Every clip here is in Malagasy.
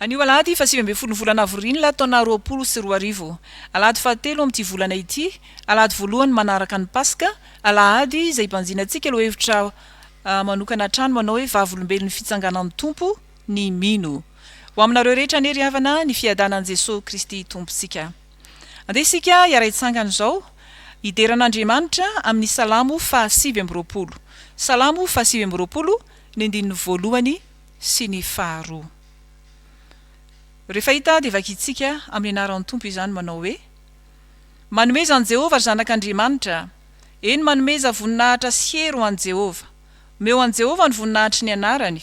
Anio alahady faha sivy ambin'ny folo ny volana avril taona roapolo sy roa arivo. Alahady fahatelo amin'ity volana ity, alahady voalohany manaraka ny paska, alahady izay ibanjinantsika lohahevitra manokana hatrany manao hoe vavolombelon'ny fitsanganan'ny Tompo ny mino. Ho aminareo rehetra anie ry havana ny fiadanan'i Jesoa Kristy Tompontsika. Andeha isika hiara-hitsangana izao hidera an'Andriamanitra amin'ny salamo faha sivy amby roapolo. Salamo faha sivy amby roapolo ny andininy voalohany. sy ny faharoa. Rehefa hita dia vakintsika amin'ny anaran'ny Tompo izany manao hoe, Manomeza an'i Jehovah ry zanak'Andriamanitra a! Eny, manomeza voninahitra sy hery ho an'i Jehovah. Omeo an'i Jehovah ny voninahitry ny anarany.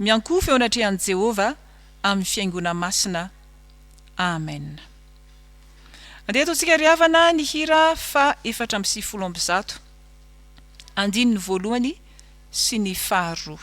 Miankohofa eo anatrehan'i Jehovah amin'ny fihaingoana masina. Amena. Andeha ataontsika ry havana ny hira fahefatra amby sivifolo amby zato, andininy voalohany sy ny faharoa.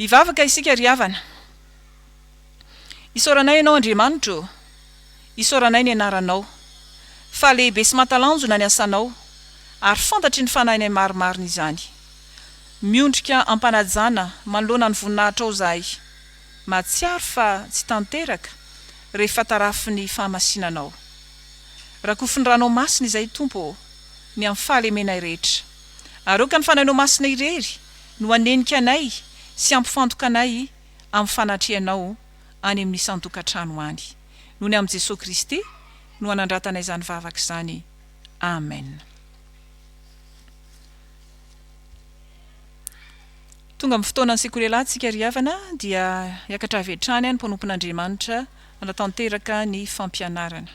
Hivavaka isika ry havana. Isaoranay Ianao Andriamanitra ô! Isaoranay ny Anaranao. Fa lehibe sy mahatalanjona ny asanao, ary fantatry ny fanahinay marimarina izany. Miondrika am-panajana manoloana ny voninahitrao izahay. Mahatsiaro fa tsy tanteraka rehefa tarafin'ny fahamasinanao. Rakofin'ny ranao masina izay Tompo ô, ny amin'ny fahalemenay rehetra. Aroaka ny fanahinao masina irery no hanenika anay sy hampifantoka anay amin'ny fanatrehanao any amin'ny isan-tokantrano any. Noho ny amin'i Jesoa Kristy no hanandratanay izany vavaka izany. Amen. Tonga amin'ny fotoana ny Sekorela tsika ry havana dia hiakatra avy hatrany any mpanompon'Andriamanitra hanatanteraka ny fampianarana.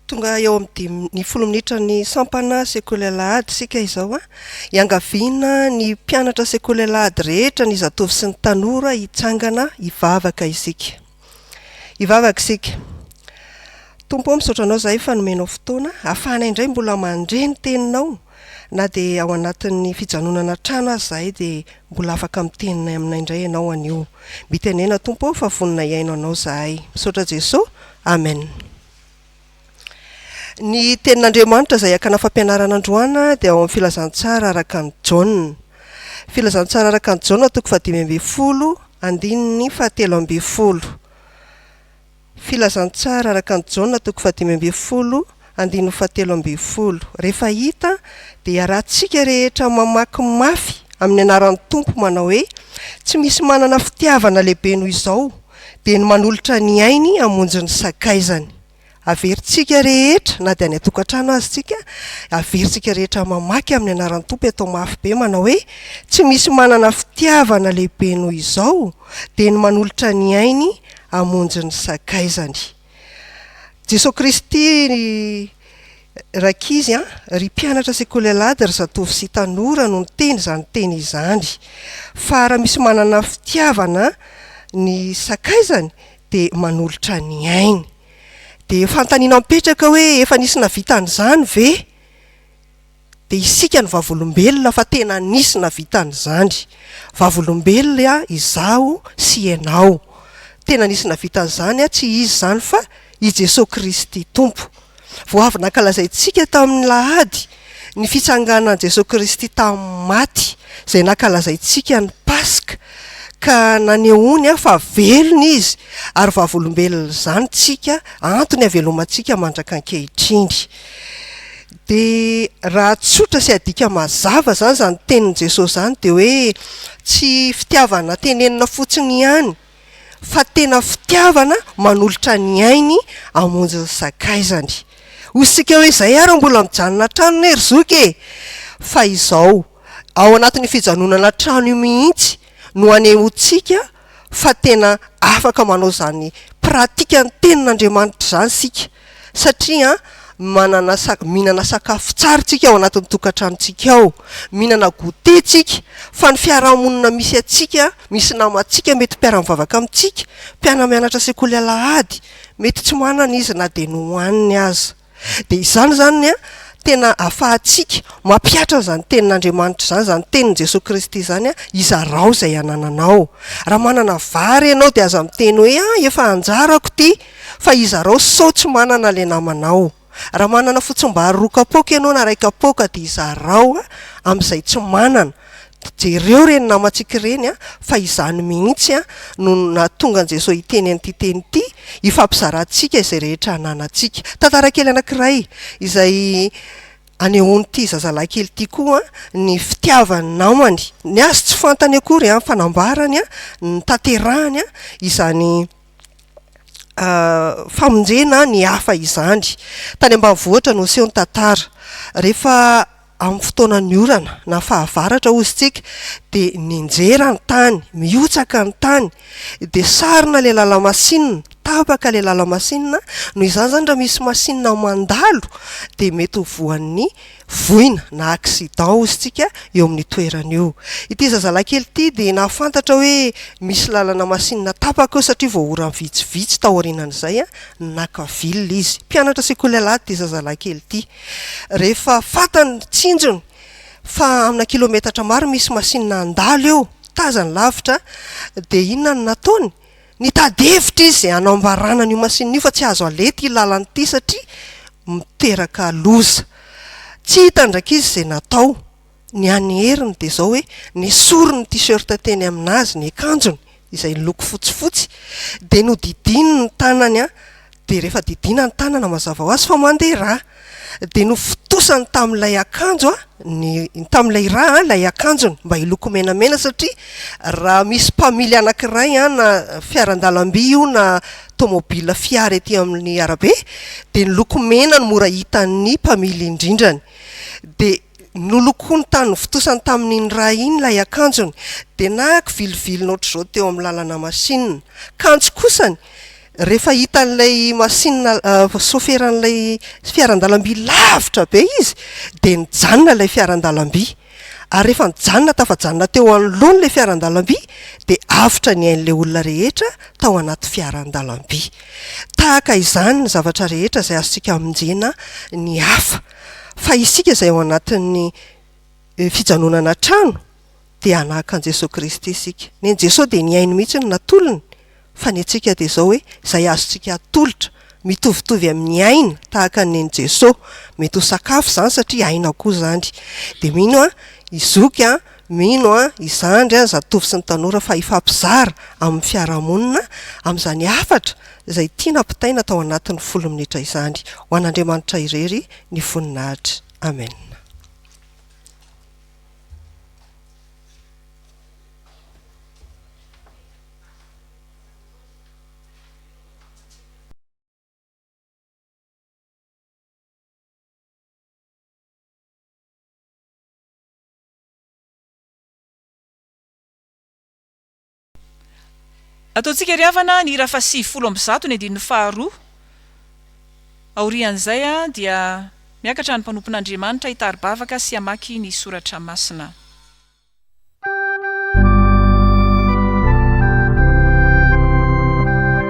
Tonga eo amin'ny dimy ny folo minitra ny sampana Sekorela ady tsika izao a. Hiangaviana ny mpianatra Sekorela ady rehetra ny zatovo sy ny tanora hitsangana hivavaka isika. Hivavaka isika. Tompo ô, misaotra Anao izahay fa nomenao fotoana, ahafahanay indray mbola mandre ny Teninao, na dia ao anatin'ny fijanonana an-trano aza izahay dia mbola afaka miteny aminay indray Ianao anio. Mitenena Tompo ô, fa vonona hihaino Anao izahay. Misaotra Jeso. Amen. Ny Tenin'Andriamanitra izay hakana fampianarana androana dia ao amin'ny Filazantsara araka an'i Jaona. Filazantsara araka an'i Jaona, toko fahadimy ambin'ny folo, andininy fahatelo ambin'ny folo. Filazantsara araka an'i Jaona, toko fahadimy ambin'ny folo, andininy fahatelo ambin'ny folo. Rehefa hita, dia iarahantsika rehetra mamaky mafy amin'ny anaran'ny Tompo manao hoe, Tsy misy manana fitiavana lehibe noho izao, Dia ny manolotra ny ainy hamonjy ny sakaizany. Averintsika rehetra, na dia any an-tokantrano aza isika, averintsika rehetra mamaky amin'ny anaran'ny Tompo eto amin'ny mafy be manao hoe, Tsy misy manana fitiavana lehibe noho izao, dia ny manolotra ny ainy hamonjy ny sakaizany. Jesoa Kristy ry rankizy an! ry mpianatra sekoly alahady ry zatovo sy tanora no niteny izany teny izany. Fa raha misy manana fitiavana ny sakaizany dia manolotra ny ainy. Dia fanontaniana mipetraka hoe efa nisy navita an'izany ve? Dia isika no vavolombelona fa tena nisy nahavita an'izany. Vavolombelona izaho sy ianao. Tena nisy nahavita an'izany, tsy izy izany fa i Jesoa Kristy Tompo. Vao avy nankalazaintsika tamin'ny lahady ny fitsanganan'i Jesoa Kristy tamin'ny maty, izay nankalazaintsika ny Paska, ka nanehoany fa velona Izy ary vavolombelona izany tsika, antony havelomantsika mandrak'ankehitriny. Dia raha tsotra sy adika mazava izany izany tenin'i Jesosy izany dia hoe tsy fitiavana tenenina fotsiny ihany fa tena fitiavana manolotra ny ainy hamonjy ny sakaizany. Hoy isika hoe izay ary mbola mijanona an-tranony e ry zoky e! Fa izao, ao anatin'io fijanonana an-trano io mihitsy no hanehoantsika fa tena afaka manao izany pratikan'ny tenin'Andriamanitra izany isika satria manana minana sakafo tsara tsika ao anatin'ny tokantranontsika ao minana goûter tsika fa ny fiarahamonina misy atsika misy namantsika mety mpiaramivavaka amintsika mpianamianatra sekoly alahady mety tsy manana izy na dia nohaniny aza Dia izany izany ny tena ahafahantsika mampihatra an'izany tenin'Andriamanitra izany, izany tenin'i Jesoa Kristy izany, izarao izay anananao. Raha manana vary ianao dia aza miteny hoe ah efa anjarako ity fa izarao sao tsy manana ilay namanao. Raha manana fotsimbary roa kapoaka ianao na iray kapoaka dia izarao amin'izay tsy manana. Jereo ireny namantsika ireny an, fa izany mihitsy an no nahatonga an'i Jesoa hiteny an'ity teny ity, hifampizarantsika izay rehetra ananantsika. Tantara kely anankiray izay anehoan'ity zazalahy kely ity koa ny fitiavan'ny namany, ny azy tsy fantany akory an, fa nambarany an, notanterahany an izany famonjena ny hafa izany. Tany ambanivohitra no niseho ny tantara, rehefa Amin'ny fotoanan'ny orana na fahavaratra hozy tsika dia ninjera ny tany, mihotsaka ny tany, dia sarona ilay lalamasinina, tapaka ilay lalamasinina, noho izany izany raha misy masinina mandalo dia mety ho voan'ny voina na accident hozy tsika eo amin'ny toerana io. Ity zazalahy kely ity dia nahafantatra hoe misy lalana masinina tapaka eo satria vao ora vitsivitsy taorianan'izay naka villa izy. Mpianatra sekoly alahady ity zazalahy kely ity. Rehefa fantany ny tsinjony fa amina kilometatra maro misy masinina handalo eo, tazany lavitra, dia inona no nataony? Nitady hevitra izy hanambarana an'io masinina io fa tsy azo aleha ity lalana ity satria miteraka loza. Tsy hitan-drak'izy izay natao. Ny an'i Heriny dia izao hoe, nesoriny ny t-shirt teny aminazy ny akanjony, izay niloko fotsifotsy, dia nodidiany ny tanany an, dia rehefa didiana ny tanana mazava ho azy fa mandeha rà. Dia nofotosany tamin'ilay akanjo ny, tamin'ilay rà an, ilay akanjony mba hiloko menamena satria raha misy mpamily anankiray an, na fiaran-dalamby io na tomobil fiara ety amin'ny arabe dia ny loko mena no mora hitan'ny mpamily indrindrany. Dia Nolokoiny tamin'ny vontosany tamin'iny ra iny ilay akanjony, dia nahako viliviliny ohatr'izao teo amin'ny lalana masinina. Kanjo kosany, rehefa hitan'ilay masinina, soferan'ilay fiaran-dalamby lavitra be izy, dia nijanona ilay fiaran-dalamby. Ary rehefa nijanona tafajanona teo anoloany ilay fiaran-dalamby, dia avotra ny ain'ilay olona rehetra tao anaty fiaran-dalamby. Tahaka izany ny zavatra rehetra izay azontsika hamonjena ny hafa. Fa isika izay ao anatin'ny fijanonana an-trano dia hanahaka an'i Jesoa Kristy isika. Nen'i Jesoa dia ny ainy mihitsy no natolony, fa ny antsika dia izao hoe izay azontsika atolotra, mitovitovy amin'ny aina tahaka ny nen'i Jesoa. Mety ho sakafo izany satria aina koa izany. Dia mino aho i Zoky an! Mino an, i zandry an, zatovo sy ny tanora fa hifampizara amin'ny fiarahamonina amin'izany hafatra izay tiana ampitaina tao anatin'ny folo minitra izany. Ho an'Andriamanitra irery ny voninahitra. Amen. Ataontsika ry havana ny hira faha sivifolo amby zato ny andininy faha roa. Aorian'izay dia miakatra ny mpanompon'Andriamanitra hitari-bavaka sy hamaky ny soratra masina.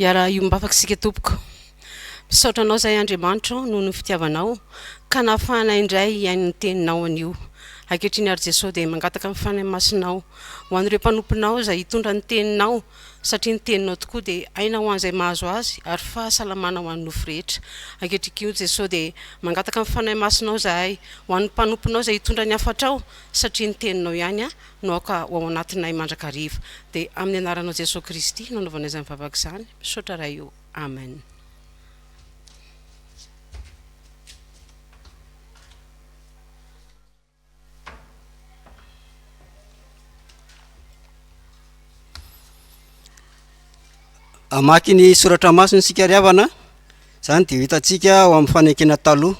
Iaraha iombafaka isika tompoko. Misaotra anao izay Andriamanitro noho ny fitiavanao ka nahafahanay indray hihaino ny teninao anio. Ankehitriny ary Jesoa dia mangataka ny Fanahy Masinao ho an'ireo mpanomponao izay hitondra ny teninao satria ny teninao tokoa dia aina ho an'izay mahazo azy ary fahasalamana ho an'ny nofo rehetra. Ankehitriny koa Jesoa dia mangataka ny Fanahy Masinao izahay ho an'ny mpanomponao izay hitondra ny hafatrao satria ny teninao ihany no aoka ho ao anatinay mandrakariva. Dia amin'ny anaranao Jesoa Kristy no anaovanay izany vavaka izany. Misaotra Ray o. Amen. Hamaky ny soratra masina isika ry havana, izany dia ho hitantsika ao amin'ny fanekena taloha,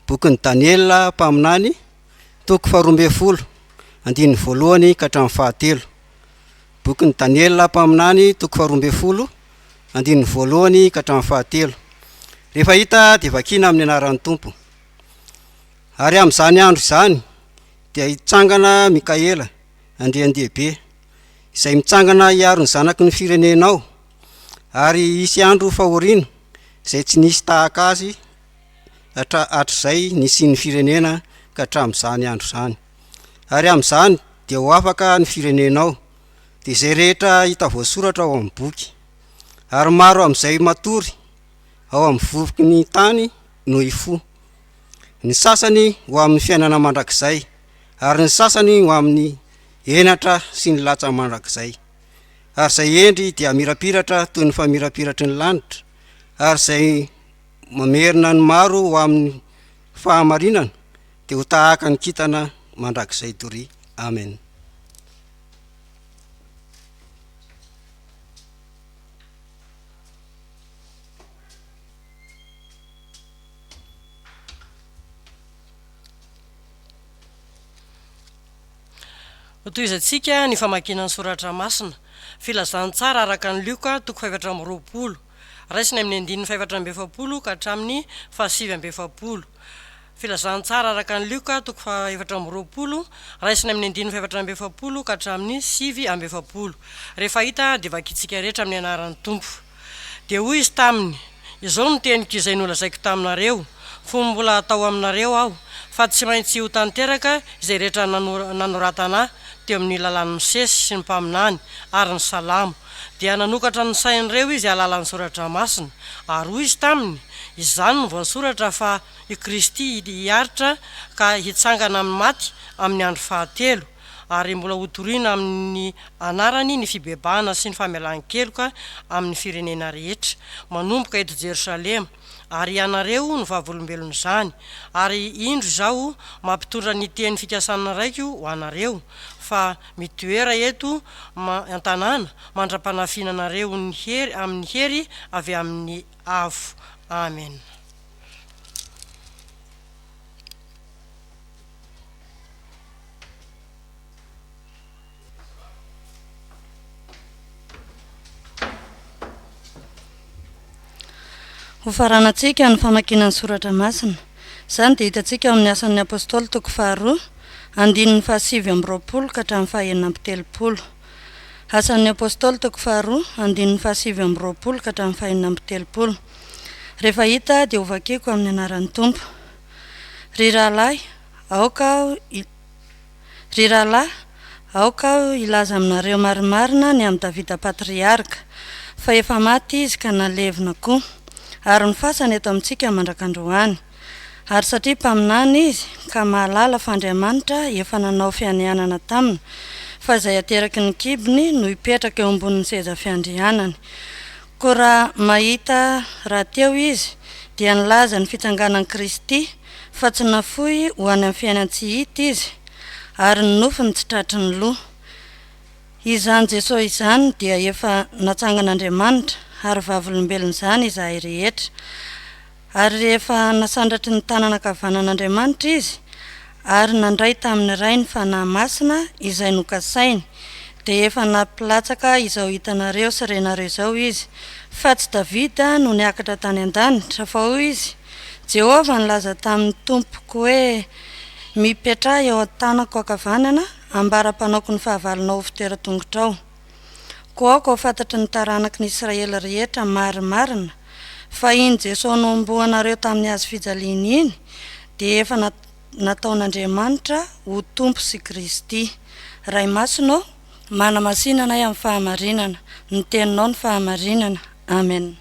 bokin'i Daniela mpaminany. Toko faharoa ambin'ny folo, andininy voalohany ka hatramin'ny fahatelo. Bokin'i Daniela mpaminany, toko faharoa ambin'ny folo, andininy voalohany ka hatramin'ny fahatelo. Rehefa hita dia vakina amin'ny anaran'ny Tompo. Ary amin'izany andro izany dia hitsangana Mikaela, andrian-dehibe, izay mitsangana hiaro ny zanaky ny firenenao, ary hisy andro fahoriana izay tsy nisy tahaka azy, hatra hatrizay nisian'ny firenena ka hatramin'izany andro izany. Ary amin'izany dia ho afaka ny firenenao, dia izay rehetra hita voasoratra ao amin'ny boky. Ary maro amin'izay matory ao amin'ny vovoky ny tany no hifoha, ny sasany ho amin'ny fiainana mandrakizay, ary ny sasany ho amin'ny henatra sy ny latsa mandrakizay. Ary izay hendry dia hamirapiratra toy ny famirapiratry ny lanitra, ary izay mamerina ny maro ho amin'ny fahamarinana dia ho tahaka ny kintana mandrakizay doria amen Hotohizantsika ny famakiana ny soratra masina. Filazantsara araka an'i Lioka, toko fahefatra amby roapolo. Raisina amin'ny andininy fahefatra amby efapolo ka hatramin'ny fahasivy amby efapolo. Filazantsara araka an'i Lioka, toko fahefatra amby roapolo, raisina amin'ny andininy fahefatra amby efapolo ka hatramin'ny sivy amby efapolo. Rehefa hita, dia vakintsika rehetra amin'ny anaran'ny Tompo. Dia hoy izy taminy, Izao no teniko izay nolazaiko taminareo, fony mbola tao aminareo aho, fa tsy maintsy ho tanteraka izay rehetra nanoratana teo amin'ny lalàn'i Mosesy sy ny mpaminany ary ny salamo, Dia nanokatra ny sain'ireo izy alalan'ny soratra masina, ary hoy izy taminy, Izany no voasoratra fa i Kristy hiharitra ka hitsangana amin'ny maty amin'ny andro fahatelo, ary mbola hotorina amin'ny anarany ny fibebahana sy ny famelan-keloka amin'ny firenena rehetra, manomboka eto Jerosalema. ary ianareo no vavolombelon'izany, ary indro izaho mampitondra ny teny fikasan'ny Raiko ho anareo, fa mitoera eto an-tanàna mandra-panafinanareo ny hery amin'ny hery avy amin'ny Avo. Amena. Hofaranantsika ny famakiana ny Soratra Masina. Izany dia hitantsika ao amin'ny Asan' ny Apôstôly toko faharoa, andininy fahasivy amby roapolo ka hatramin'ny fahenina amby telopolo. Asan' ny Apôstôly toko faharoa, andininy fahasivy amby roapolo ka hatramin'ny fahenina amby telopolo. Rehefa hita dia hovakiko amin'ny anaran'ny Tompo. Ry rahalahy, aoka aho Ry rahalahy, aoka aho hilaza aminareo marimarina ny amin'i Davida Patriarka, fa efa maty izy ka nalevina koa, ary ny fasany eto amintsika mandrak'androany. Ary satria mpaminany izy, ka mahalala fa Andriamanitra efa nanao fianianana taminy fa izay ateraky ny kibony no hipetraka eo ambonin'ny seza fiandrianany, Koa raha mahita rahateo izy, dia nilaza ny fitsanganan'i Kristy, fa tsy nafoy ho any amin'ny fiainan-tsy hita izy, ary ny nofony tsy tratry ny loha. Izany Jesosy izany dia efa natsangan'Andriamanitra, ary vavolombelon'izany izahay rehetra. Ary rehefa nasandratry ny tanana ankavanan'Andriamanitra izy, ary nandray tamin'ny Ray ny Fanahy Masina izay nokasainy, dia efa nampilatsaka izao hitanareo sy renareo izao izy, fa tsy Davida no niakatra tany an-danitra, fa hoy izy, Jehovah nilaza tamin'ny Tompoko hoe, Mipetraha eo an-tanako ankavanana, ambara-panaoko ny fahavalonao ho fitoeran-tongotrao. Koa aoka ho fantatry ny taranaky ny Israely rehetra marimarina fa iny Jesoa nohomboanareo tamin'ny hazo fijaliana iny dia efa nataon'Andriamanitra ho Tompo sy Kristy. Ray Masina ô, manamasina anay amin'ny fahamarinana. Ny Teninao no fahamarinana. Amen.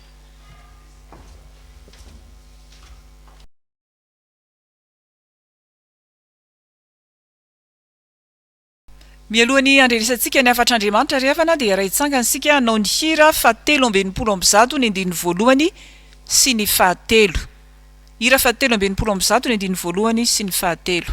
Mialoha ny handrenesantsika ny hafatr'Andriamanitra ry havana dia iray tsangany isika hanao ny hira faha telo amby enimpolo amby zato ny andininy voalohany sy ny faha telo. Hira faha telo amby enimpolo amby zato ny andininy voalohany sy ny faha telo.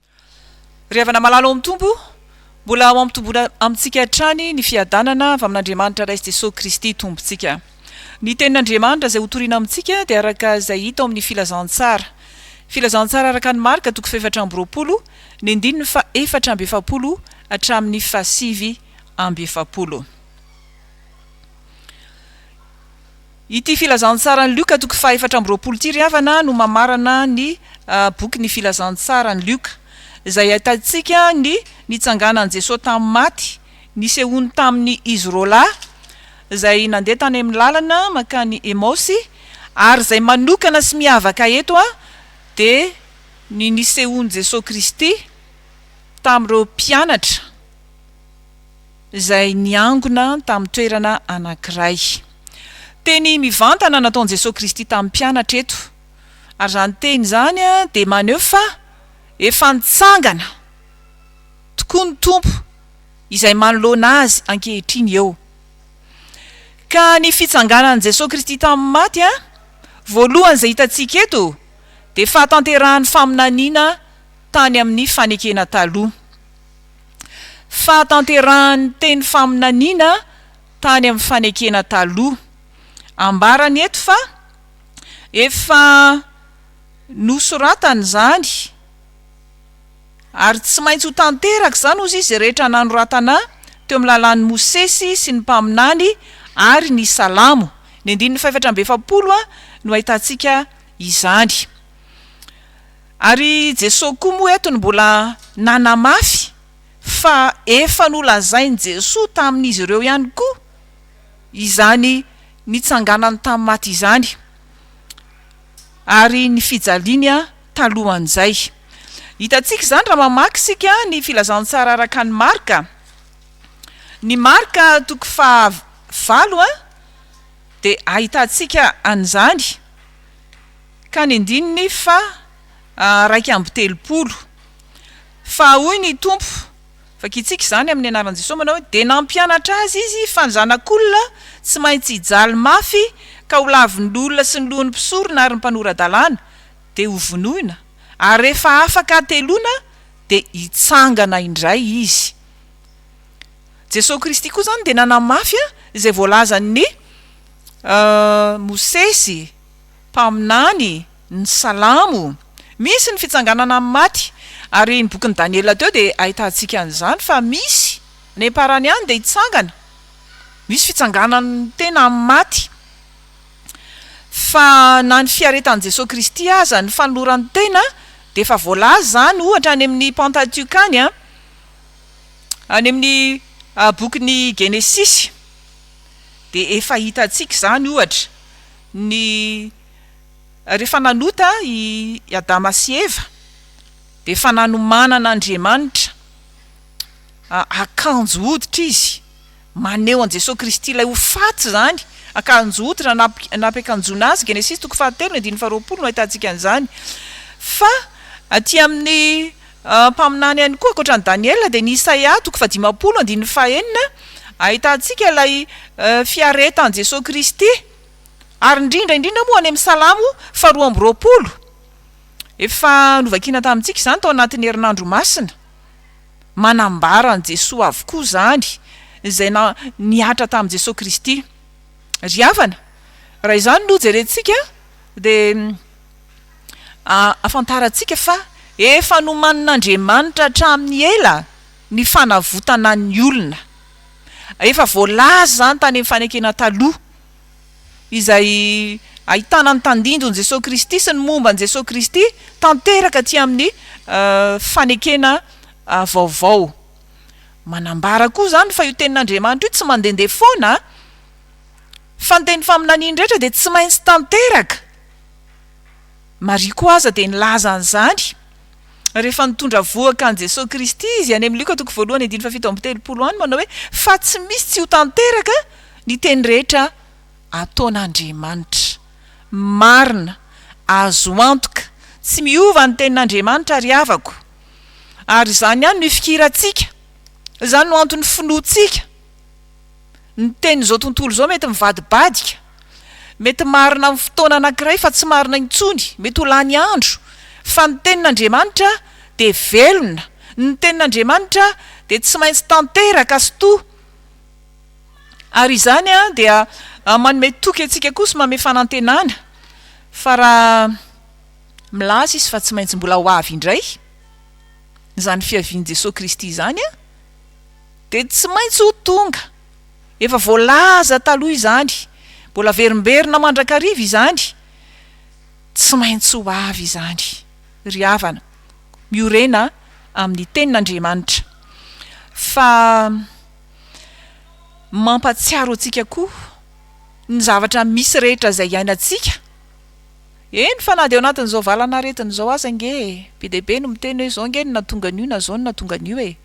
Ry havana malala ao amin'ny Tompo, mbola ho ampitomboina amintsika hatrany ny fiadanana avy amin'Andriamanitra Ray sy Jesosy Kristy Tompontsika. Ny Tenin'Andriamanitra izay hotorina amintsika dia araka izay hita ao amin'ny Filazantsara. Filazantsara araka an'i Marka toko fahefatra amby roapolo, ny andininy fahefatra amby efapolo hatramin'ny fahasivy amby efapolo. Ity Filazantsaran'i Lioka toko fahefatra amby roapolo ity ry havana no mamarana ny boky ny Filazantsaran'i Lioka, izay ahitantsika ny nitsanganan'i Jesoa tamin'ny maty, nisehoany tamin'ny izy roa lahy izay nandeha tany amin'ny lalana mankany Emaosy, ary izay manokana sy miavaka eto dia ny nisehoan'i Jesoa Kristy tamin'ireo mpianatra. izay niangona tamin'ny toerana anankiray. Teny mivantana nataon'i Jesoa Kristy tamin'ny mpianatra eto, ary izany teny izany dia maneho fa efa nitsangana tokoa ny Tompo izay manoloana Azy ankehitriny eo. Ka ny fitsanganan'i Jesoa Kristy tamin'ny maty voalohany izay hitantsika eto dia fahatanterahan'ny faminaniana tany amin'ny fanekena taloha. Fahatanterahan'ny teny faminaniana tany amin'ny fanekena taloha. Ambarany eto fa efa nosoratany izany ary tsy maintsy ho tanteraka izany hozy izy rehetra nanoratana teo amin'ny lalàn'i Mosesy sy ny mpaminany ary ny salamo. Ny andininy fahefatra amby efapolo no ahitantsika izany. Ary Jesoa koa moa eto no mbola nanamafy fa efa nolazain'i Jesoa tamin'izy ireo ihany koa izany nitsanganany tamin'ny maty izany ary ny fijaliany talohan'izay. Hitantsika izany raha mamaky isika ny Filazantsara araka an'i Marka. Ny Marka toko faha valo dia ahitantsika an'izany. Ka ny andininy faha iraika amby telopolo. Fa hoy ny Tompo, vakitsika izany amin'ny anaran'i Jesosy manao hoe, Dia nampianatra azy izy fa ny Zanak'olona tsy maintsy hijaly mafy ka ho lavin'ny olona sy ny lohan'ny mpisorona ary ny mpanora-dalàna, dia hovonoina, ary rehefa afaka hateloana dia hitsangana indray izy. Jesosy Kristy koa izany dia nanamafy izay voalazan'i Mosesy. Mpaminany, ny Salamo, misy ny fitsanganana amin'ny maty, ary ny bokin'i Daniela teo dia ahitantsika an'izany fa misy, any am-parany any dia hitsangana, misy fitsanganan'ny tena amin'ny maty. Fa na ny fiaretan'i Jesoa Kristy aza, ny fanolorany tena dia efa voalaza izany ohatra any amin'ny Pentatioka any, any amin'ny bokin'ny Genesisy dia efa hitantsika izany ohatra. Ny rehefa nanota i Adama sy Eva dia efa nanomanana Andriamanitra akanjo hoditra izy, maneho an'i Jesoa Kristy ilay ho faty izany, akanjo hoditra nampiakanjoana Azy, Genesisy toko fahatelo andininy faharoapolo no ahitantsika an'izany. Fa aty amin'ny mpaminany ihany koa ankoatra an'i Daniela dia ny Isaia toko fahadimampolo andininy fahenina ahitantsika ilay fiaretan'i Jesoa Kristy, ary indrindra indrindra moa any amin'ny Salamo faharoa amby roapolo, efa novakina tamintsika izany tao anatin'ny herinandro masina, manambara an'i Jesoa avokoa izany, izay na nihatra tamin'i Jesoa Kristy. Ry havana, raha izany no jerentsika dia ahafantarantsika fa efa nomanin'Andriamanitra hatramin'ny ela ny fanavotana ny olona. Efa voalaza izany tany amin'ny Fanekena Taloha, izay ahitana ny tandindon'i Jesoa Kristy sy ny momba an'i Jesoa Kristy, tanteraka aty amin'ny Fanekena Vaovao. Manambara koa izany fa io Tenin'Andriamanitra io tsy mandehandeha foana, fa ny teny faminaniany rehetra dia tsy maintsy tanteraka. Maria koa aza dia nilaza an'izany rehefa nitondra vohoka an'i Jesoa Kristy Izy, any amin'ny Lioka toko voalohany andininy fahafito amby telopolo any, manao hoe, Fa tsy misy tsy ho tanteraka ny teny rehetra ataon'Andriamanitra. Marina, azo antoka, tsy miova ny tenin'Andriamanitra ry havako. Ary izany ihany no ifikirantsika, izany no anton'ny finoantsika. Ny tenin'izao tontolo izao mety mivadibadika, mety marina amin'ny fotoana anankiray fa tsy marina intsony, mety ho lany andro, fa ny tenin'Andriamanitra dia velona, ny tenin'Andriamanitra dia tsy maintsy tanteraka sy to, ary izany dia manome toky antsika koa sy manome fanantenana fa raha milaza Izy fa tsy maintsy mbola ho avy indray izany fiavian'i Jesoa Kristy izany, Dia tsy maintsy ho tonga. Efa voalaza taloha izany. Mbola averimberina mandrakariva izany. Tsy maintsy ho avy izany. Ry havana, miorena amin'ny Tenin'Andriamanitra. Fa mampatsiaro antsika koa ny zavatra misy rehetra izay iainantsika. Eny fa na dia ao anatin'izao valan'aretina izao aza ange e! Be dia be no miteny hoe izao ange no nahatonga an'io na izao no nahatonga an'io e!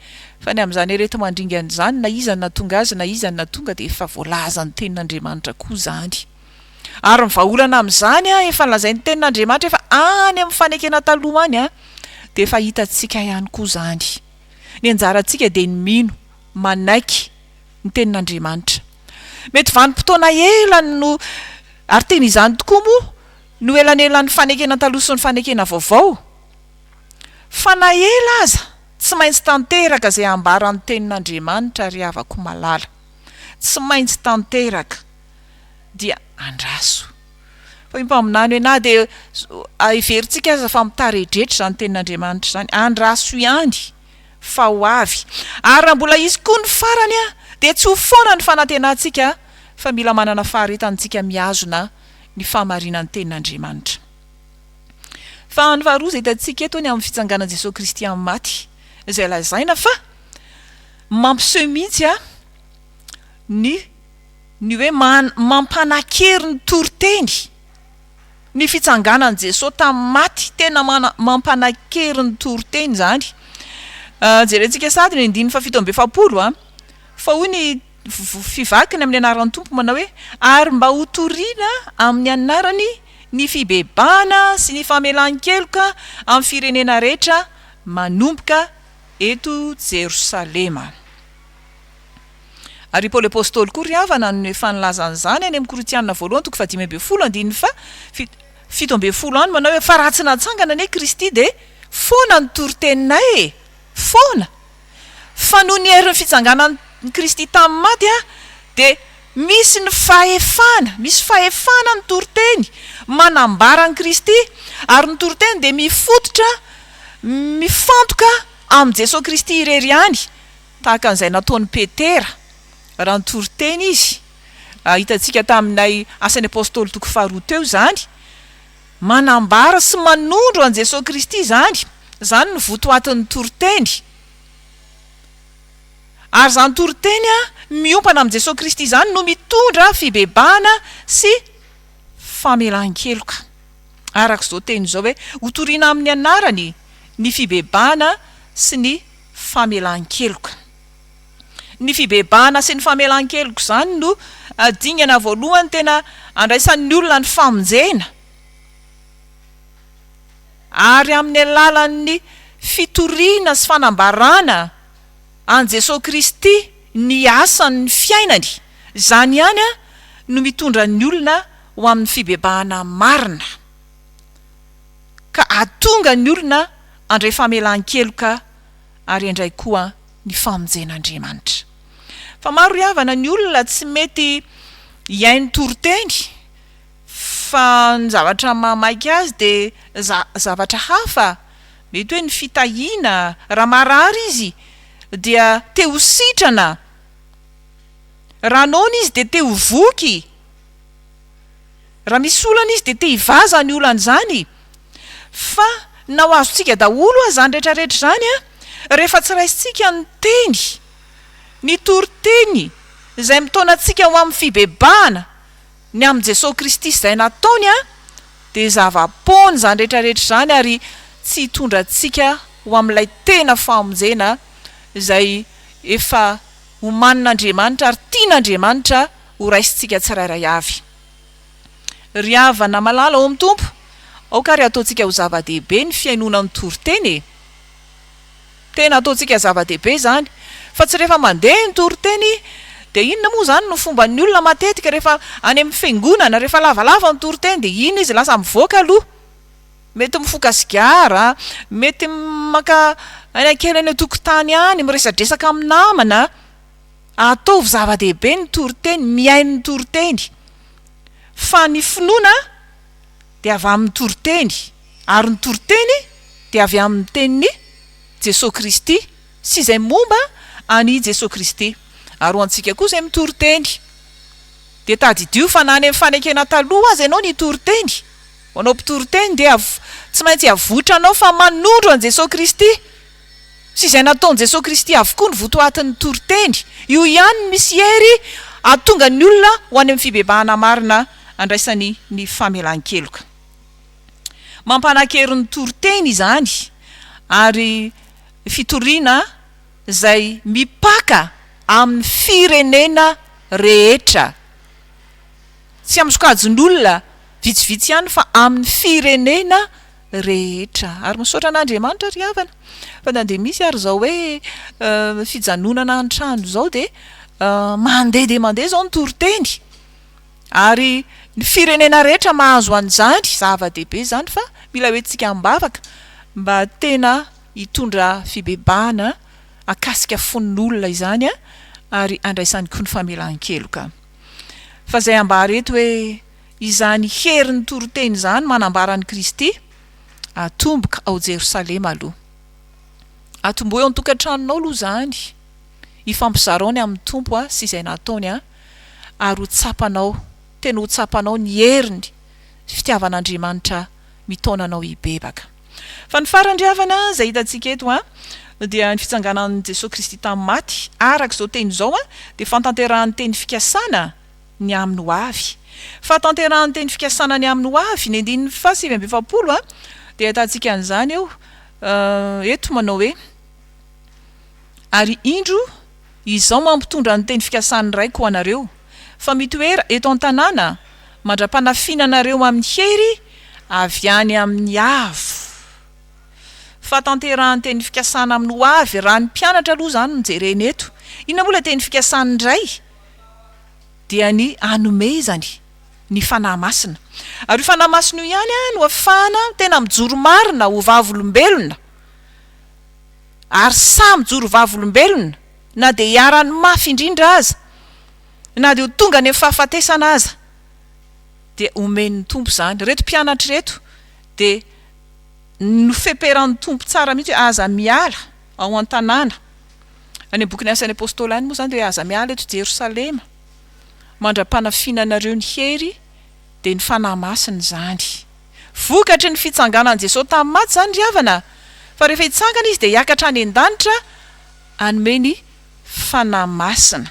Fa ny amin'izany areti-mandringana izany, na iza no nahatonga azy na iza no nahatonga dia efa voalazan'ny Tenin'Andriamanitra koa izany. Ary ny vahaolana amin'izany an, efa nolazain'ny Tenin'Andriamanitra efa any amin'ny fanekena taloha any an, dia efa hitantsika ihany koa izany. Ny anjarantsika dia ny mino, manaiky, ny tenin'Andriamanitra. Mety vanim-potoana ela no, ary tena izany tokoa moa no elanelan'ny fanekena taloha sy ny fanekena vaovao. Fa na ela aza, tsy maintsy tanteraka izay ambaran'ny tenin'Andriamanitra ry havako malala. Tsy maintsy tanteraka. Dia andraso. Fa io mpaminany hoe na dia heverintsika aza fa mitaredretra izany tenin'Andriamanitra izany, andraso ihany. fa ho avy. Ary raha mbola hisy koa ny farany dia tsy ho foana ny fanantenantsika fa mila manana faharetana tsika mihazona ny fahamarinan'ny tenin'Andriamanitra. Fahany faharoa izay hitantsika eto ny amin'ny fitsanganan'i Jesoa Kristy amin'ny maty izay lazaina fa mampiseho mihitsy ny ny hoe mampanakery ny toriteny. Ny fitsanganan'i Jesoa tamin'ny maty, tena mampanakery ny toriteny izany. Jerentsika sahady ny andininy fahafito amby efapolo a. Fa hoy ny fivakiny amin'ny anaran'ny Tompo manao hoe, ary mba hotorina amin'ny anarany ny fibebahana sy ny famelan-keloka amin'ny firenena rehetra manomboka eto Jerosalema. Ary i Paoly Apostoly koa ry havana no efa nilaza an'izany any amin'ny Korintiana voalohany toko fahadimy ambin'ny folo andininy faha fito fito ambin'ny folo any manao hoe fa raha tsy natsangana anie Kristy dia foana ny toriteninay e! foana! fa noho ny herin'ny fitsanganan'i Kristy tamin'ny maty aho dia misy ny fahefana, misy fahefana ny toriteny manambara an'i Kristy ary ny toriteny dia mifototra mifantoka amin'i Jesoa Kristy irery ihany Tahaka an'izay nataon'i Petera, raha nitory teny izy, hitantsika tamin'ilay Asan'ny Apostoly toko faharoa teo izany, manambara sy manondro an'i Jesoa Kristy izany, izany no votoatin'ny toriteny. Ary izany toriteny miompana amin'i Jesoa Kristy izany no mitondra fibebahana sy famelan-keloka. Araka izao teny izao hoe, hotorina amin'ny anarany ny fibebahana sy ny famelan-keloka. Ny fibebahana sy ny famelan-keloka izany no dingana voalohany tena andraisan'ny olona ny famonjena, ary amin'ny alalan'ny fitoriana sy fanambarana an'i Jesoa Kristy ny asan'ny fiainany, izany ihany no mitondra ny olona ho amin'ny fibebahana marina. ka hahatonga ny olona handray famelan-keloka ary indray koa ny famonjen'Andriamanitra. Fa maro ry havana ny olona tsy mety hihaino toriteny fa ny zavatra mahamaika azy dia zavatra hafa, mety hoe ny fitahiana, raha marary izy dia te ho sitrana, raha noana izy dia te ho voky. Raha misy olana izy dia te hivaza ny olany izany fa na ho azontsika daholo aza izany rehetra rehetra izany rehefa tsy raisintsika ny teny, ny toriteny izay mitaona antsika ho amin'ny fibebahana ny amin'i Jesoa Kristy sy izay nataony dia zava-poana izany rehetra rehetra izany ary tsy hitondra antsika ho amin'ilay tena famonjena izay efa omanin'Andriamanitra ary tian'Andriamanitra ho raisintsika tsirairay avy. Ry havana malala ao amin'ny Tompo, aoka ary ataontsika ho zava-dehibe ny fihainoana ny toriteny e! Tena ataontsika zava-dehibe izany, fa tsy rehefa mandeha ny toriteny, dia inona moa izany no fomban'ny olona matetika rehefa any amin'ny fiangonana, rehefa lavalava ny toriteny dia iny izy lasa mivoaka aloha, mety mifoka sigara, mety maka aina kely any an-tokotany any, miresadresaka amin'ny namana. Ataovy zava-dehibe ny toriteny, mihaino ny toriteny, fa ny finoana dia avy amin'ny toriteny, ary ny toriteny dia avy amin'ny tenin'i Jesoa Kristy sy izay momba an'i Jesoa Kristy. Ary ho antsika koa izay mitory teny, dia tadidio fa na any amin'ny fanekena taloha aza ianao nitory teny, ho anao mpitory teny dia tsy maintsy avotranao fa manondro an'i Jesoa Kristy, sy izay nataon'i Jesoa Kristy avokoa ny votoatin'ny toriteny. Io ihany no misy hery hahatonga ny olona ho any amin'ny fibebahana marina andraisany ny famelan-keloka. Mampanan-kery ny toriteny izany ary fitoriana izay mipaka amin'ny firenena rehetra. Tsy amin'ny sokajin'olona vitsivitsy ihany fa amin'ny firenena. rehetra. Ary misaotra an'Andriamanitra ry havana fa na dia misy ary izao hoe fijanonana an-trano izao dia mandeha dia mandeha izao ny toriteny ary ny firenena rehetra mahazo an'izany, zava-dehibe izany fa mila hoentintsika am-bavaka mba tena hitondra fibebahana akasika fon'olona izany ary andraisany koa ny famelan-keloka. Fa izay ambara eto hoe. Izany herin'ny toriteny izany manambara an'i Kristy, Atomboka ao Jerosalema aloha. Atombohy ao an-tokantranonao aloha izany, ifampizarao ny amin'ny Tompo sy izay nataony ary ho tsapanao, tena ho tsapanao ny heriny, fitiavan'Andriamanitra mitaona anao hibebaka. Fa ny farany ry havana izay hitantsika eto dia ny fitsanganan'i Jesoa Kristy tamin'ny maty, araka izao teny izao dia fantanterahan'ny teny fikasana, ny amin'ny ho avy. Fahatanterahan'ny teny fikasana ny amin'ny ho avy, ny andininy faha sivy amby efapolo a, dia ahitantsika an'izany eo eto manao hoe, Ary indro, izao mampitondra ny teny fikasan'ny Raiko ho anareo, fa mitoera eto an-tanàna mandra-panafihina anareo amin'ny hery avy any amin'ny Avo. Fahatanterahan'ny teny fikasana amin'ny ho avy, raha ny mpianatra aloha izany no jerena eto. Inona moa ilay teny fikasan'ny Ray? dia ny hanome izany ny Fanahy Masina. Ary io Fanahy Masina io ihany no afahana tena mijoro marina ho vavolombelona, ary sahy mijoro vavolombelona na dia iharan'ny mafy indrindra aza, na dia ho tonga any amin'ny fahafatesana aza, dia omen'ny Tompo izany. Ireto mpianatra ireto dia nofeperan'ny Tompo tsara mihitsy hoe aza miala ao an-tanàna. Any amin'ny bokin'ny Asan'ny Apôstôly any moa izany dia aza miala eto Jerosalema mandra-panafinanareo ny hery, dia ny Fanahy Masina izany. Vokatry ny fitsanganan'i Jesoa tamin'ny maty izany ry havana a! Fa rehefa hitsangana Izy dia hiakatra any an-danitra hanome ny Fanahy Masina.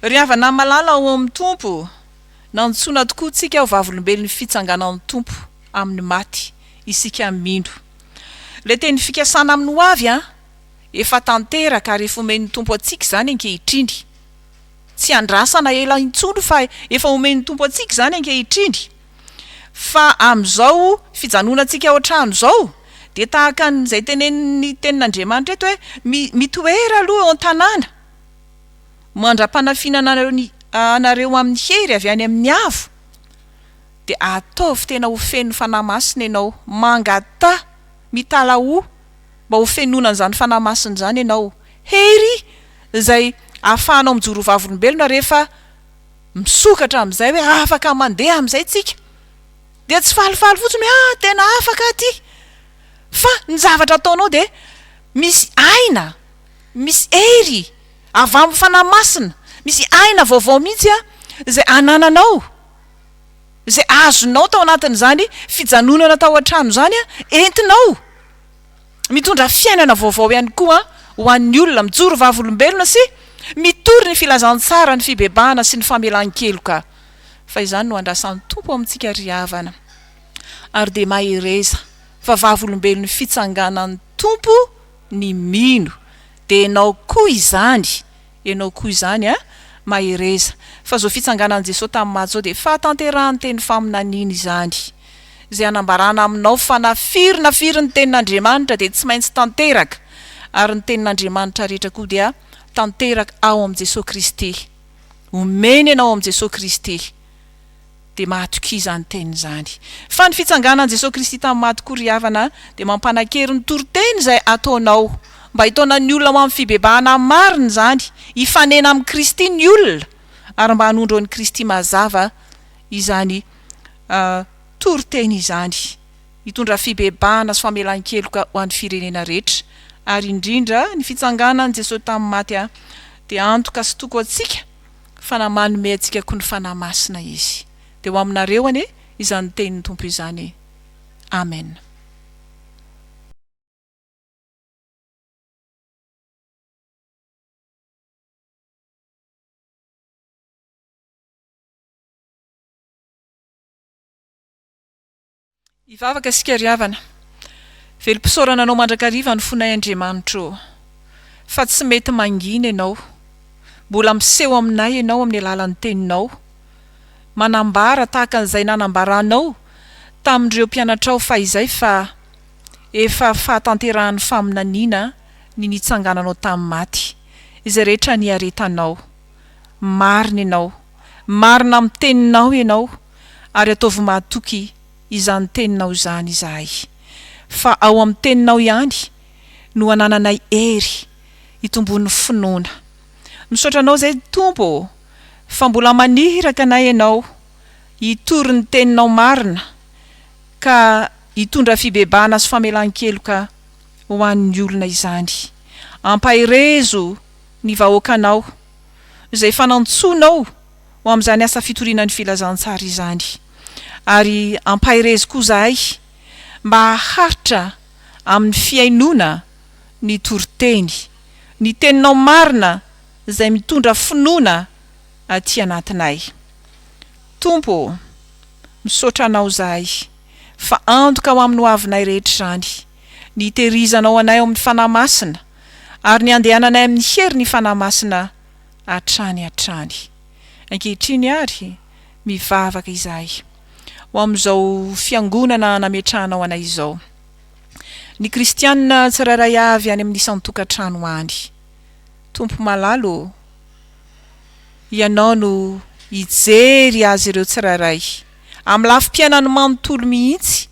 Ry havana malala ao amin'ny Tompo, nantsoina tokoa tsika ho vavolombelon'ny fitsanganan'ny Tompo amin'ny maty isika mino Ilay teny fikasana amin'ny ho avy an! Efa tanteraka ary efa omen'ny Tompo antsika izany ankehitriny. Tsy andrasana ela intsony fa efa omen'ny Tompo antsika izany ankehitriny. Fa amin'izao fijanonantsika ao an-trano izao dia tahaka an'izay tenenin'ny tenin'Andriamanitra eto hoe mi, mitoera aloha eo an-tanàna mandra-panafiana anareo ny, anareo amin'ny hery avy any amin'ny Avo. dia ataovy tena ho feno Fanahy Masina ianao, mangataha, mitalahoa mba ho fenoina an'izany Fanahy Masina izany ianao, hery izay ahafahanao mijoro ho vavolombelona rehefa misokatra amin'izay hoe afaka mandeha amin'izay tsika, dia tsy falifaly fotsiny hoe ah tena afaka aho ity, fa ny zavatra ataonao dia misy aina, misy hery avy amin'ny Fanahy Masina, misy aina vaovao mihintsy izay anananao. izay azonao tao anatin'izany fijanonana tao an-trano izany, entinao mitondra fiainana vaovao ihany koa ho an'ny olona, mijoro vavolombelona sy mitory ny filazantsara, ny fibebahana sy ny famelan-keloka, fa izany no andrasan'ny Tompo amintsika ry havana. Ary dia mahereza, fa vavolombelon'ny fitsanganan'ny Tompo ny mino, dia ianao koa izany. Ianao koa izany a! Mahereza! Fa izao fitsanganan'i Jesoa tamin'ny maty izao dia fahatanterahan'ny teny faminaniana izany. Izay anambarana aminao fa na firy na firy ny tenin'Andriamanitra dia tsy maintsy tanteraka, ary ny tenin'Andriamanitra rehetra koa dia tanteraka ao amin'i Jesoa Kristy. Omeny ianao amin'i Jesoa Kristy. dia mahatokia izany teny izany. Fa ny fitsanganan'i Jesoa Kristy tamin'ny maty koa ry havana dia mampanankery ny toriteny izay ataonao mba hitaona ny olona ho amin'ny fibebahana amin'ny marina izany, hifanena amin'i Kristy ny olona ary mba hanondro an'i Kristy mazava izany toriteny izany hitondra fibebahana sy famelan-keloka ho an'ny firenena rehetra ary indrindra ny fitsanganan'i Jesoa tamin'ny maty dia antoka sy toko antsika fa na manome antsika koa ny Fanahy Masina Izy, dia ho aminareo anie izany tenin'ny Tompo izany. Amen. Hivavaka isika ry havana. Velom-pisaorana anao mandrakariva ny fonay Andriamanitro ô. Fa tsy mety mangina ianao. Mbola miseho aminay ianao amin'ny alalan'ny teninao. Manambara tahaka an'izay nanambaranao tamin'ireo mpianatrao fahizay fa efa fahatanterahan'ny faminaniana ny nitsangananao tamin'ny maty. Izay rehetra niaretanao. Marina ianao. Marina amin'ny teninao ianao, ary ataovy mahatoky izany teninao izany izahay, fa ao amin'ny teninao ihany no anananay hery hitomboan'ny finoana. Misaotra anao izay Tompo ô, fa mbola maniraka anay ianao hitory ny teninao marina, ka hitondra fibebahana sy famelan-keloka ho an'ny olona izany. Ampaherezo ny vahoakanao izay fanantsonao ho amin'izany asa fitoriana ny Filazantsara izany. Ary ampaherezo koa izahay mba haharitra amin'ny fihainoana ny toriteny, ny Teninao marina izay mitondra finoana aty anatinay. Tompo ô, misaotra Anao izahay fa antoka ho amin'ny hoavinay rehetra izany, ny hitehirizanao anay ao amin'ny Fanahy Masina, ary ny handehananay amin'ny herin'ny Fanahy Masina hatrany hatrany. Ankehitriny àry, mivavaka izahay ho amin'izao fiangonana nametrahanao anay izao, ny Kristianina tsirairay avy any amin'ny isan-tokantrano any. Tompo malala ô, Ianao no hijery azy ireo tsirairay, amin'ny lafim-piainany manontolo mihitsy,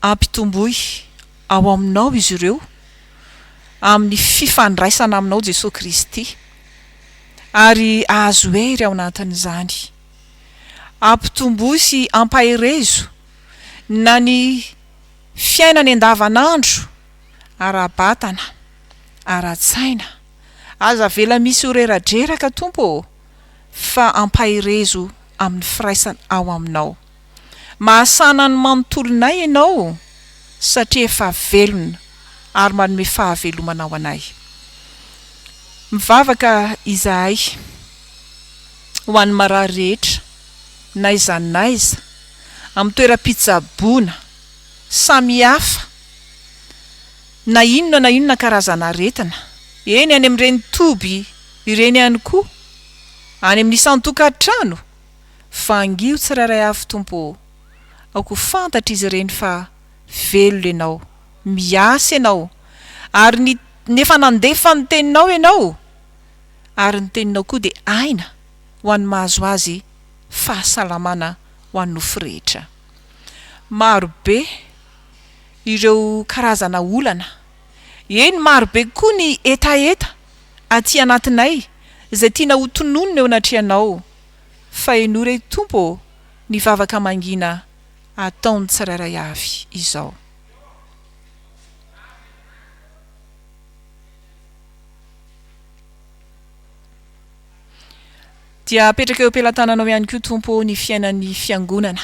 Ampitomboy ao aminao izy ireo amin'ny fifandraisana aminao Jesoa Kristy ary ahazo hery ao anatin'izany. Ampitomboy sy ampaherezo na ny fiainany andavanandro ara-batana, ara-tsaina. Aza avela misy ho reradreraka Tompo ô, fa ampaherezo amin'ny firaisana ao aminao. Mahasana ny manontolonay Ianao satria efa velona ary manome fahavelomana ho anay. Mivavaka izahay ho an'ny marary rehetra n'aiza n'aiza amin'ny toeram-pitsaboana samihafa na inona na inona karazan'aretina, eny any amin'ireny toby ireny ihany koa, any amin'ny isan-tokantrano, fa angio tsirairay avy Tompo ô! aoko fantatra izy ireny fa velona Ianao, miasa Ianao, ary ny ny efa nandefa ny Teninao Ianao, ary ny Teninao koa dia aina ho an'ny mahazo azy fahasalamana ho an'ny nofo rehetra. Maro be ireo karazana olana, eny maro be koa ny hetaheta aty anatinay izay tiana ho tononina eo anatrehanao, Fahenoa re Tompo ô ny vavaka mangina ataon'ny tsirairay avy izao. Dia apetraka eo am-pelatananao ihany koa Tompo ô ny fiainan'ny Fiangonana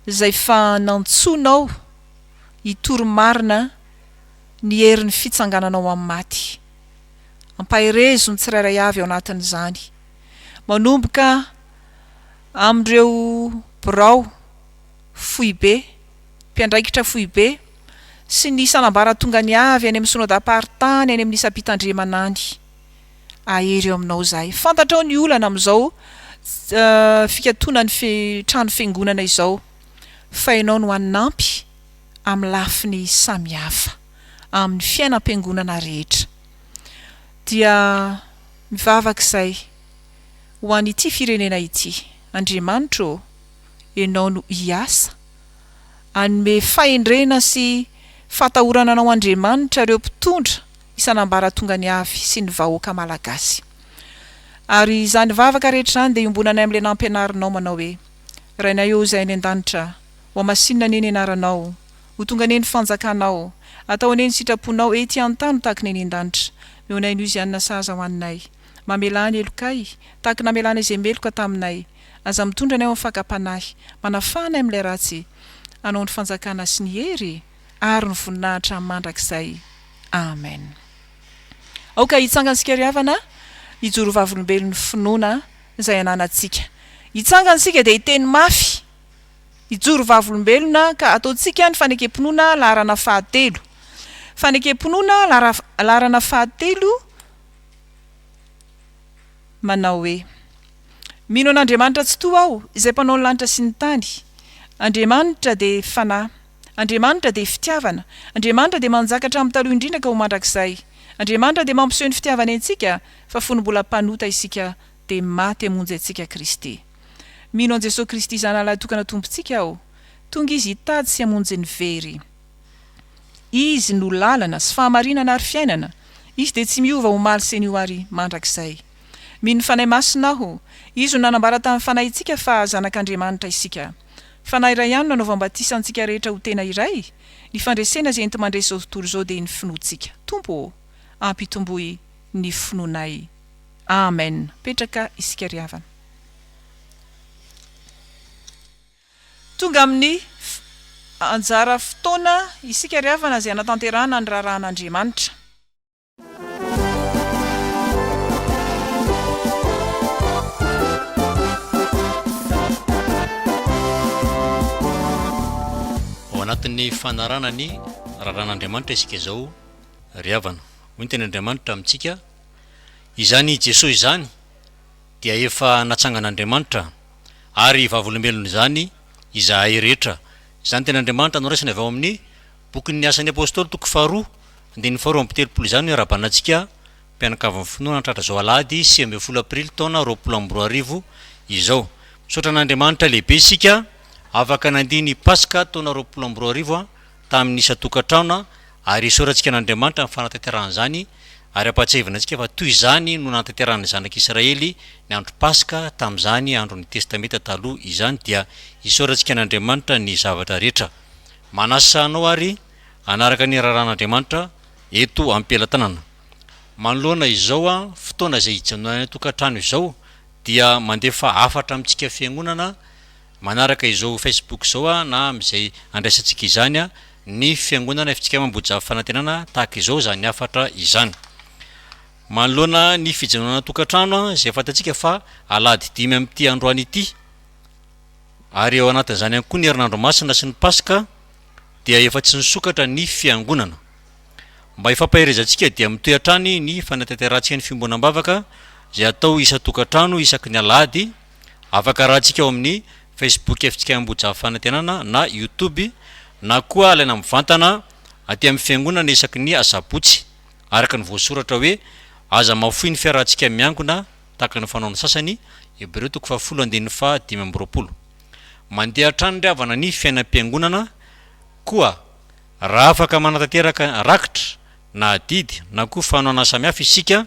izay fa nantsoinao hitory marina ny herin'ny fitsangananao amin'ny maty. Ampaherezo ny tsirairay avy ao anatin'izany. manomboka amin'ireo birao foibe, mpiandraikitra foibe sy ny sanambaratongany avy any amin'ny Synodam-paritany any amin'ny isam-pitandremana any. Ahery eo aminao izahay. Fantatrao ny olana amin'izao fikatonan'ny trano fiangonana izao fa ianao no hanampy amin'ny lafiny samihafa amin'ny fiainam-piangonana rehetra. Dia. Mivavaka izay, ho an'ity firenena ity. Andriamanitra ô, Ianao no hiasa. Hanome fahendrena sy fahatahorana Anao Andriamanitra ireo mpitondra isan'ambaratongany avy sy ny vahoaka Malagasy. Ary izany vavaka rehetra izany dia iombonanay amin'ilay nampianarinao manao hoe, Rainay ô Izay any an-danitra, hohamasinina anie ny Anaranao, Ho tonga anie ny fanjakanao. Atao anie ny sitraponao ety an-tany ho tahaka ny eny an-danitra. Meonay noho izany na sahaza ho anay. Mamelà ny helokay, tahaka namelàna izay meloka taminay. Aza mitondra anay ho amin'ny fakam-panahy. Manafaha anay amin'ilay ratsy. Anao ny fanjakana sy ny hery ary ny voninahitra mandrakizay. Amen. Aoka hitsangantsika ry havana, hijoro vavolombelon'ny finoana izay ananantsika. Hitsangana isika dia hiteny mafy Hijoro vavolombelona ka ataontsika ny fanekem-pinoana laharana fahatelo. Fanekem-pinoana laharana fahatelo manao hoe, Mino an'Andriamanitra Tsitoha aho, izay mpanao ny lanitra sy ny tany. Andriamanitra dia Fanahy. Andriamanitra dia Fitiavana. Andriamanitra dia manjaka hatramin'ny taloha indrindra ka ho mandrakizay. Andriamanitra dia mampiseho ny fitiavany antsika fa fony mbola mpanota isika dia maty hamonjy antsika Kristy. Mino an'i Jesoa Kristy Zanalahy tokana Tompontsika aho. Tonga Izy hitady sy hamonjy ny very. Izy no lalana sy fahamarinana ary fiainana. Izy dia tsy miova omaly sy anio ary mandrakizay. Mino ny Fanahy Masina aho. Izy no nanambara tamin'ny Fanahintsika fa zanak'Andriamanitra isika. Fanahy iray ihany no anaovany batisa antsika rehetra ho tena iray. Ny fandresena izay enti-mandresy izao tontolo izao dia ny finoantsika. Tompo ô! Ampitomboy ny finoanay. Amen. Petraka isika ry havana. Tonga amin'ny anjara fotoana isika ry havana izay hanatanterahana ny raharahan'Andriamanitra. Ao anatin'ny fanarahana ny raharahan'Andriamanitra isika izao ry havana. Hoy ny tenin'Andriamanitra amintsika, Izany Jesoa izany, dia efa natsangan'Andriamanitra, ary vavolombelon' izany izahay rehetra. Izany teny Andriamanitra noraisina avy ao amin'ny Bokin'ny Asan'ny Apôstôly toko faharoa andininy faharoa amby telopolo izany no iarahabana antsika mpianakavin'ny finoana hatratra izao alahady sivy ambin'ny folo aprily taona roapolo amby roa arivo izao. Misaotra an'Andriamanitra lehibe isika afaka nandia ny Paska taona roapolo amby roa arivo. tamin'ny isan-tokantrano ary esorantsika an'Andriamanitra ny fanatanterahana izany ary ampahatsiahivina antsika fa toy izany no nanatanterahana ny zanak'i Israely ny andro Paska tamin'izany andron'ny Testamenta Taloha izany dia isaorantsika an'Andriamanitra ny zavatra rehetra manasa anao ary hanaraka ny raharahan'Andriamanitra eto am-pelatanana manoloana izao fotoana izay ijanonanay an-tokantrano izao dia mandefa hafatra amintsika fiangonana Manaraka izao Facebook izao a na amin'izay andraisantsika izany a, ny fiangonana fitsika amam-boajavy fanantenana tahaka izao izany hafatra izany. Manoloana ny fijanonana tokantrano a, izay fantatsika fa alahady dimy amin'ity androany ity, ary ao anatin'izany ihany koa ny herinandro masina sy ny paska, dia efa tsy nisokatra ny fiangonana. Mba hifampaherezantsika dia mitohy hatrany ny fanatanterahantsika ny fiombonam-bavaka izay atao isan-tokantrano isaky ny alahady, Afaka arahantsika ao amin'ny Facebook Fitsikaina Ambohijafy Fanantenana na Youtube na koa alaina mivantana aty amin'ny Fiangonana isaky ny Asabotsy, araka ny voasoratra hoe, Aza mahafoy ny fiarahantsika miangona tahaka ny fanaon'ny sasany, Hebreo toko fahafolo andininy faha dimy amby roapolo. Mandeha hatrany ry havana ny fiainam-piangonana, koa raha afaka manatanteraka rakitra na adidy na koa fanohanana samihafa isika,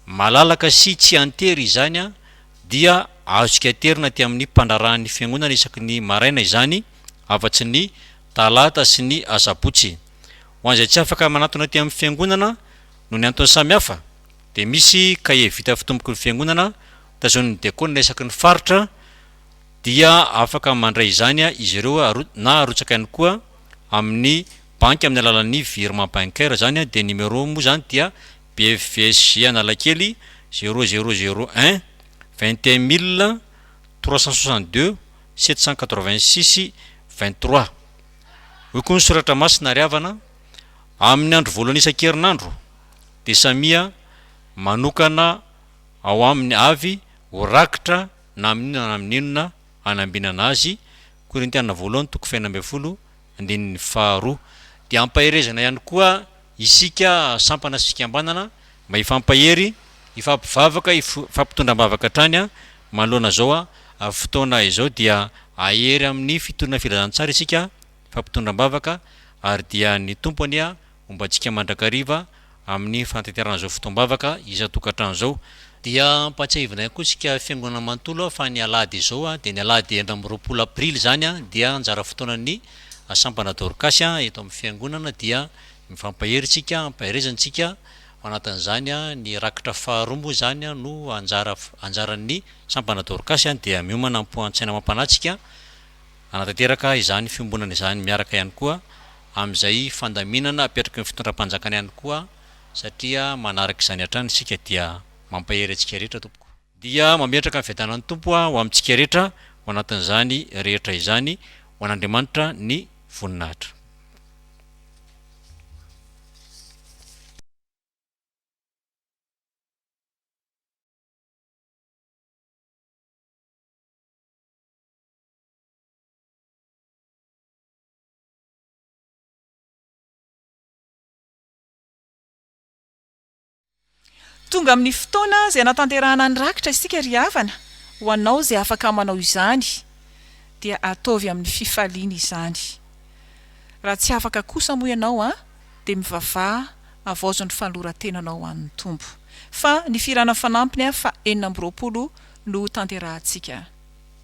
Malalaka sy tsy an-tery izany dia azontsika aterina aty amin'ny mpandraharahan'ny Fiangonana isaky ny maraina izany, afa-tsy ny talata sy ny asabotsy. Ho an'izay tsy afaka manatona aty amin'ny Fiangonana noho ny antony samihafa dia misy kahie vita fitomboky ny Fiangonana tazonin'ny diakona isaky ny faritra dia afaka mandray izany izy ireo na arotsaka ihany koa amin'ny banky amin'ny alalan'ny virement bancaire izany dia numéro moa izany dia BFVSJ Analakely zéro zéro zéro un, vingt et un mille trois cent soixante deux sept cent quatre vingt six vingt trois. Hoy koa ny soratra masina ry havana, amin'ny andro voalohany isan-kerinandro dia samia manokana ao aminy avy ho rakitra na amin'inona na amin'inona hanambinana azy, Korintiana voalohany toko fahenina ambin'ny folo, Andininy faharoa. Dia ampaherezana ihany koa isika sampana sy fikambanana mba hifampahery, hifampivavaka, hifampitondra am-bavaka hatrany manoloana izao fotoana izao dia hahery amin'ny fitoriana filazantsara isika, hifampitondra am-bavaka ary dia ny Tompo anie Momba antsika mandrakariva amin'ny fanatanterahana izao fotoam-bavaka isan-tokantrano izao, dia ampahatsiahivina ihany koa isika Fiangonana manontolo fa ny alahady izao dia ny alahady enina amby roapolo aprily izany dia anjara fotoanan'ny Sampana Dorcas eto amin'ny Fiangonana dia mifampahery isika ampaherezana isika ao anatin'izany ny rakitra faharoa moa izany no anjara anjaran'ny Sampana Dorcas dia miomana am-poan-tsaina amam-panahy isika Hanatanteraka izany fiombonana izany miaraka ihany koa amin'izay fandaminana apetraky ny fitondram-panjakana ihany koa satria manaraka izany hatrany isika dia mampahery antsika rehetra tompoko. Dia mametraka ny fiadanan'ny Tompo ho amintsika rehetra ho anatin'izany rehetra izany ho an'Andriamanitra ny voninahitra. Tonga amin'ny fotoana izay hanatanterahana ny rakitra isika ry havana, ho anao izay afaka manao izany dia ataovy amin'ny fifaliana izany. Raha tsy afaka kosa moa ianao an, dia mivavaha havaozo ny fanoloran-tenanao ho an'ny Tompo. Fa ny firana fanampiny faha enina amby roapolo no ho tanterahantsika.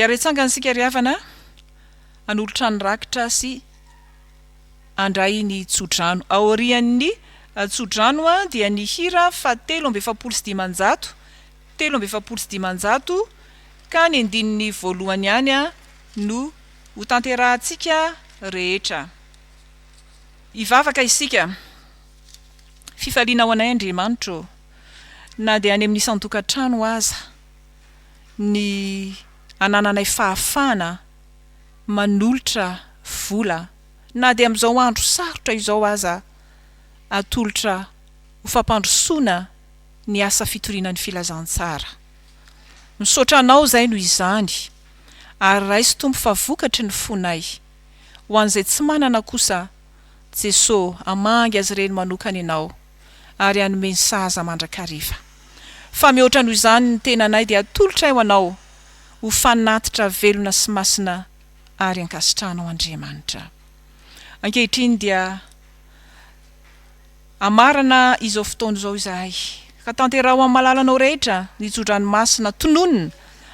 Hiaretsanga antsika ry havana hanolotra ny rakitra sy handray ny tsodrano. Aorian'ny tsodrano dia ny hira fahatelo amby efapolo sy dimanjato, telo amby efapolo sy dimanjato ka ny andininy voalohany ihany no. hotanterahantsika rehetra. Hivavaka isika, Fifaliana ho anay Andriamanitra ô, na dia any amin'ny isan-tokantrano aza, ny anananay fahafahana manolotra vola, na dia amin'izao andro sarotra izao aza, atolotra ho fampandrosoana ny asa fitoriana ny Filazantsara. Misaotra Anao izay noho izany. Ary raiso Tompo fa vokatry ny fonay. Ho an'izay tsy manana kosa, Jeso, hamangy azy ireny manokana Ianao, ary hanome ny sahaza mandrakariva. Fa mihoatra noho izany ny tenanay dia atolotray ho Anao, ho fanatitra velona sy masina ary ankasitrahanao Andriamanitra. Ankehitriny dia. Hamarana izao fotoana izao izahay, ka tanteraho amin'ny malalanao rehetra ny tso-dranomasina tononina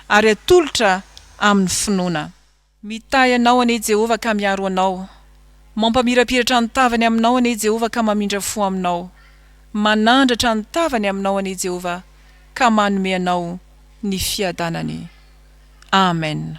ary atolotra amin'ny finoana. Mitahy anao anie Jehovah ka miaro anao, mampamirapiratra ny tavany aminao anie Jehovah ka mamindra fo aminao, manandratra ny tavany aminao anie Jehovah ka manome anao ny fiadanany. Amen.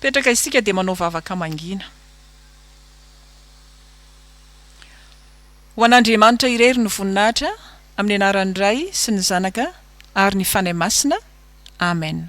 Petraka isika dia manao vavaka mangina. Ho an'Andriamanitra irery ny voninahitra, amin'ny anaran'ny Ray sy ny Zanaka ary ny Fanahy Masina. Amen.